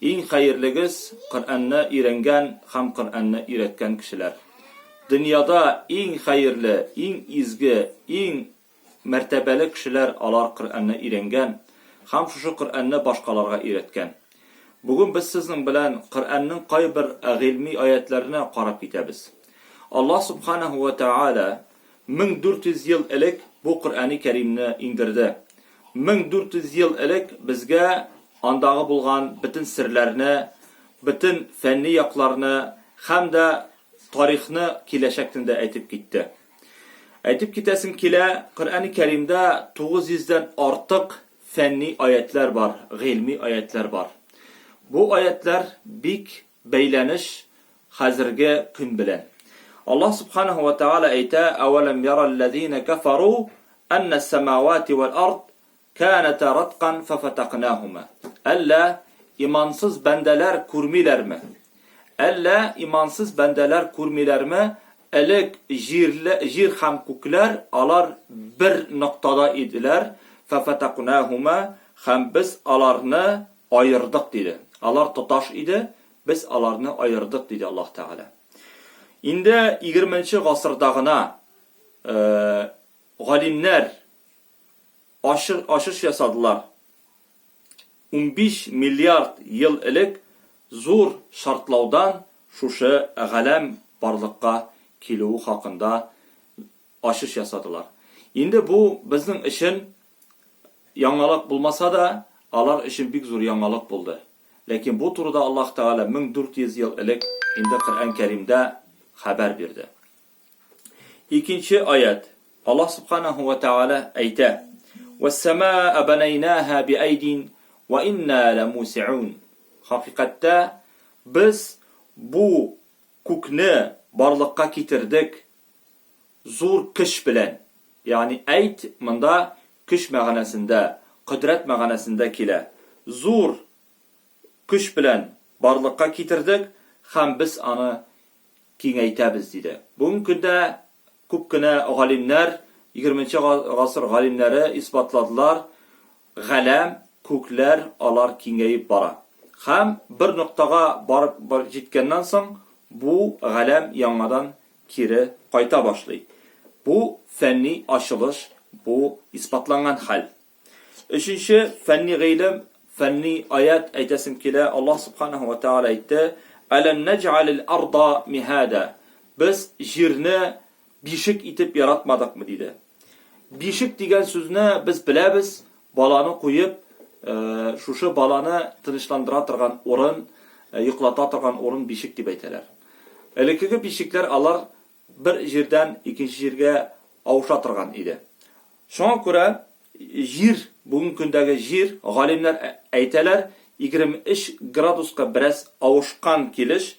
Иң хәерлегез, Коръәнне өйрәнгән һәм Коръәнне өйрәткән кешеләр. Дөньяда иң хәерле, иң изге, иң мәртәбәле кешеләр алар Коръәнне өйрәнгән һәм шушы Коръәнне башкаларга өйрәткән. Бүген без сезнең белән Коръәннең кайбер гыйльми аятьләренә карап китәбез. Аллаһ Субханаһу вә Тәгалә 1400 ел элек бу Коръәни Кәримне иңдерде. 1400 ел элек безгә Андагы булган бөтен серләрне, бөтен фәнни якларны һәм дә тарихны, киләчәкне дә әйтеп китте. Әйтеп китәсем килә, Коръәни Кәримдә 900 дән артык фәнни аятьләр бар, гыйльми аятьләр бар. Бу аятьләр бик бәйләнеш хәзерге көн белән. Аллаһ Субханаһу ва Тәгалә әйтә, Әвәләм ярал ләзинә кәфәру, әннәс сәмәвати вәл ард Кәнәтә раткан фәфәтәкнәһүмә. Әллә имансыз бәндәләр күрмиләрме? Әллә имансыз бәндәләр күрмиләрме? Элек җирле, җир һәм күкләр алар бер ноктада иделәр, фәфәтәкнәһүмә, һәм без аларны аердык, диде. Алар тоташ иде, без аларны аердык, диде Аллаһ Тәгалә. Инде егерменче гасырда гына галимнәр ачык ачыш ясадылар. Унбиш миллиард ел элек зур шартлаудан шушы галәм барлыкка килүе хакында ачыш ясадылар. Инде бу безнең өчен яңалык булмаса да, алар өчен бик зур яңалык булды. Ләкин бу турыда Аллаһ Тәгалә 1400 ел элек инде Коръән Кәримдә хәбәр бирде. Икенче аять. Аллаһ Субханаһу ва Тәгалә әйтә: "Вәс-самааә банәйнааһа биәйдин ва инна ләмусиун". Хакыйкатьтә, без бу күкне барлыкка китердек зур көч белән. Ягъни әйд монда көч мәгънәсендә, кодрәт мәгънәсендә килә. Зур көч белән барлыкка китердек һәм без аны киңәйтәбез, диде. Бүгенге көндә күп кенә галимнәр, егерменче гасыр галимнәре исбатладылар, галәм, күкләр, алар киңәеп бара. Һәм бер ноктага барып җиткәннән соң, бу галәм яңадан кире кайта башлый. Бу фәнни ачылыш, бу исбатланган хәл. Өченче фәнни гыйлем, фәнни аят әйтәсем килә. Аллаһ субханаһу ва тааля әйтте: "Алам наҗ'алил арда михада". Без җирне бишек итеп яратмадыкмы диде. Бишек дигән сүзне без беләбез, баланы куеп, э, шушы баланы тынычландыра торган урын, э, йоклата торган урын бишек дип әйтәләр. Элеккеге бишекләр алар бер җирдән икенче җиргә авыша торган иде. Шуңа күрә Җир, бүгенге көндәге Җир, галимнәр әйтәләр, 23 градуска бераз авышкан килеш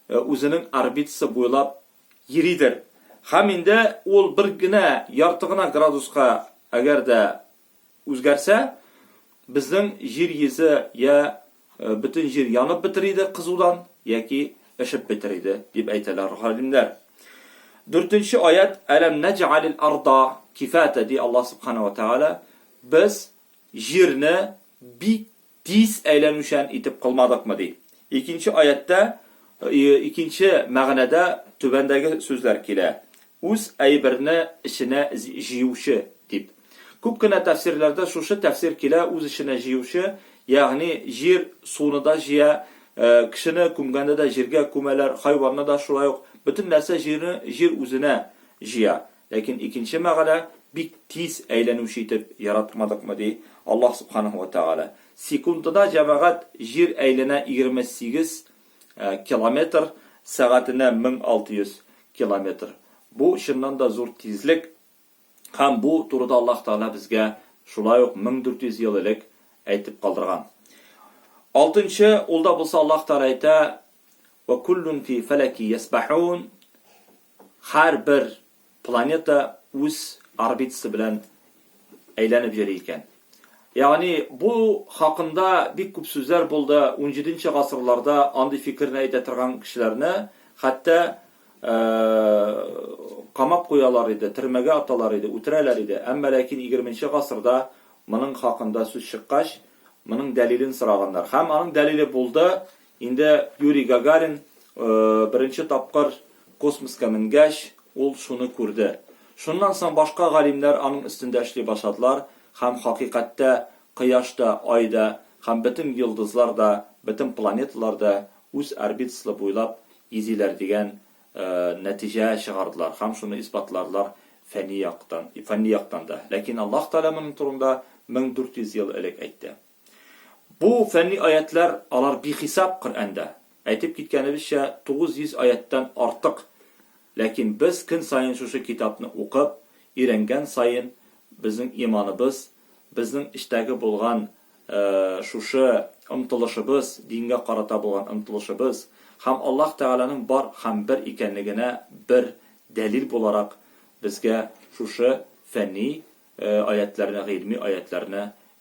үзенең орбитасы буйлап йөридер. Һәм инде ул бер генә, ярты гына градуска әгәр дә Үзгәрсә, безнең җир йөзе йә бөтен җир янып бетер иде кызудан, яки эшеп бетер иде, дип әйтәләр галимнәр. Дүртенче аять, Әләм нәҗәалил арда кифата, ди Аллаһ Субхана ва Тәгалә, без җирне бик Тиз әйләнүчән итеп кылмадыкмы? ди. Икенче аятьтә икенче мәгънәдә түбәндәге сүзләр килә, Үз әйберне эченә җыючы, дип. Күп кенә тәфсирләрдә шушы тәфсир килә, үз эченә җыючы, ягъни җир, суны да җыя, кешене күмгәндә дә җиргә күмәләр, хайванны да шулай ук, бөтен нәрсә җирне җир үзенә җыя. Ләкин икенче мәгънә бик тиз әйләнүче итеп яратмадыкмы ди Аллаһ Субханаһу вә Тәгалә. Секундына җәмәгать җир әйләнә егерме сигез километр, сәгатенә мең алты йөз километр. Бу чыннан да зур тизлек һәм бу турыда Аллаһ Тәгалә безгә шулай ук мең дүрт йөз ел элек әйтеп калдырган. Алтынчы улда булса Аллаһ Тәгалә әйтә, Вә куллун фи фәләки ясбәһун. Һәр бер планета үз орбитасы белән әйләнеп йөри икән. Ягъни бу хакында бик күп сүзләр булды, унҗиденче гасырларда андый фикерне әйтә торган кешеләрне хәтта камап куялар иде, төрмәгә аталар иде, үтерәләр иде. Әмма ләкин егерменче гасырда моның хакында сүз чыккач, моның дәлилен сораганнар. Һәм аның дәлиле булды, Инде Юрий Гагарин беренче тапкыр космоска менгәч, ул шуны күрде. Шуннан соң башка галимнәр аның өстендә эшли башладылар һәм хакыйкатьтә Кояш та, Ай да һәм бөтен йолдызлар да, бөтен планеталар да үз орбитаслы буйлап йизиләр дигән нәтиҗә чыгардылар һәм шуны исбатладылар фәнни яктан да. Ләкин Аллаһ Тәгалә моның турында 1400 ел элек әйтте. Бу фәнни аятьләр, алар бихисап Коръәндә. Әйтеп киткәнебезчә, 900 аятьтән артык. Ләкин без көн саен шушы китапны укып, өйрәнгән саен, безнең иманыбыз, безнең эчтәге булган шушы омтылышыбыз, дингә карата булган омтылышыбыз һәм Аллаһ Тәгаләнең бар һәм бер икәнлегенә бер дәлил буларак, безгә шушы фәнни аятьләрне, гыйльми аятьләрне